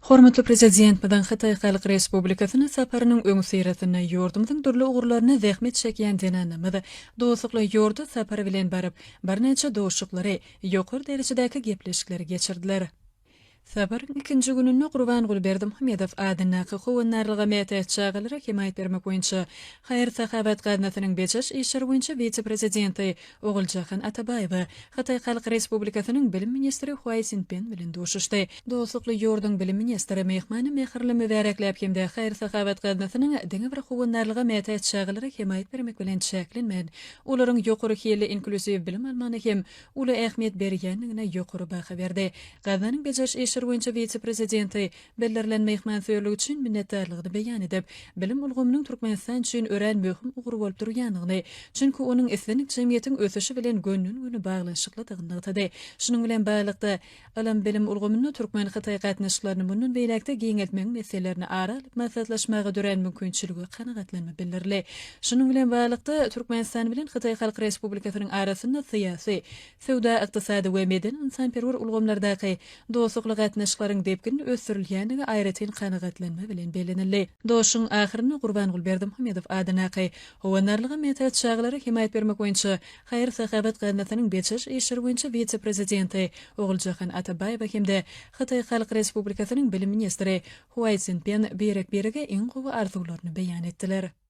Hormatly Prezidentmiziň Hytaý Halk Respublikasyna saparynyň öňüsyrasynda ýurdumyzyň dürli ugurlaryna zähmet çekýän zenanlarymyz dostlukly ýurda sapar bilen baryp, birnäçe duşuşyklary, ýokary derejedäki gepleşikleri geçirdiler. Saparyň ikinji gününde Gurbanguly Berdimuhamedow adyndaky Howandarlyga mätäç çagalara hemaýat bermek boýunça haýyr-sahawat gaznasynyň bejeriş işleri boýunça wise-prezidenti Oguljahan Atabaýewa Hytaý Halk Respublikasynyň Bilim ministri Huaý Sinpen bilen duşuşdy. Dostlukly ýurduň Bilim ministri myhmany mähirli mübärekläp hem-de haýyr-sahawat gaznasynyň diňe bir howandarlyga mätäç çagalara hemaýat bermek bilen çäklenmän, olaryň ýokary hilli inklusiw bilim almagyna hem uly ähmiýet berýändigine ýokary baha berdi. Gaznanyň bejeriş işleri boýunça wise-prezidenti bildirilen myhmansöýerlik üçin minnetdarlygyny beýan edip, bilim ulgamynyň Türkmenistan üçin örän möhüm ugur bolup durýandygyny, çünki onuň islendik jemgyýetiň ösüşi bilen gönden-göni baglanyşyklydygyny nygtady. Şunuň bilen baglylykda, ylym-bilim ulgamynda türkmen-hytaý gatnaşyklaryny mundan beýläk-de giňeltmegiň meselelerini ara alyp maslahatlaşmaga dörän mümkinçilige kanagatlanma bildirildi. Şunuň bilen baglylykda, Türkmenistan bilen Hytaý Halk Respublikasynyň arasynda syýasy, söwda-ykdysady we medeni-ynsanperwer ulgamlardaky Dostlukly gatnaşyklaryň depginli ösdürilýändigi aýratyn kanagatlanma bilen bellenildi. Duşuşygyň ahyrynda Gurbanguly Berdimuhamedow adyndaky Howandarlyga mätäç çagalara hemaýat bermek boýunça haýyr-sahawat gaznasynyň bejeriş işleri boýunça wise-prezidenti Oguljahan Atabaýewa hem-de Hytaý Halk Respublikasynyň bilim ministri Huaýsinpen birek-birege iň gowy arzuwlaryny beýan etdiler.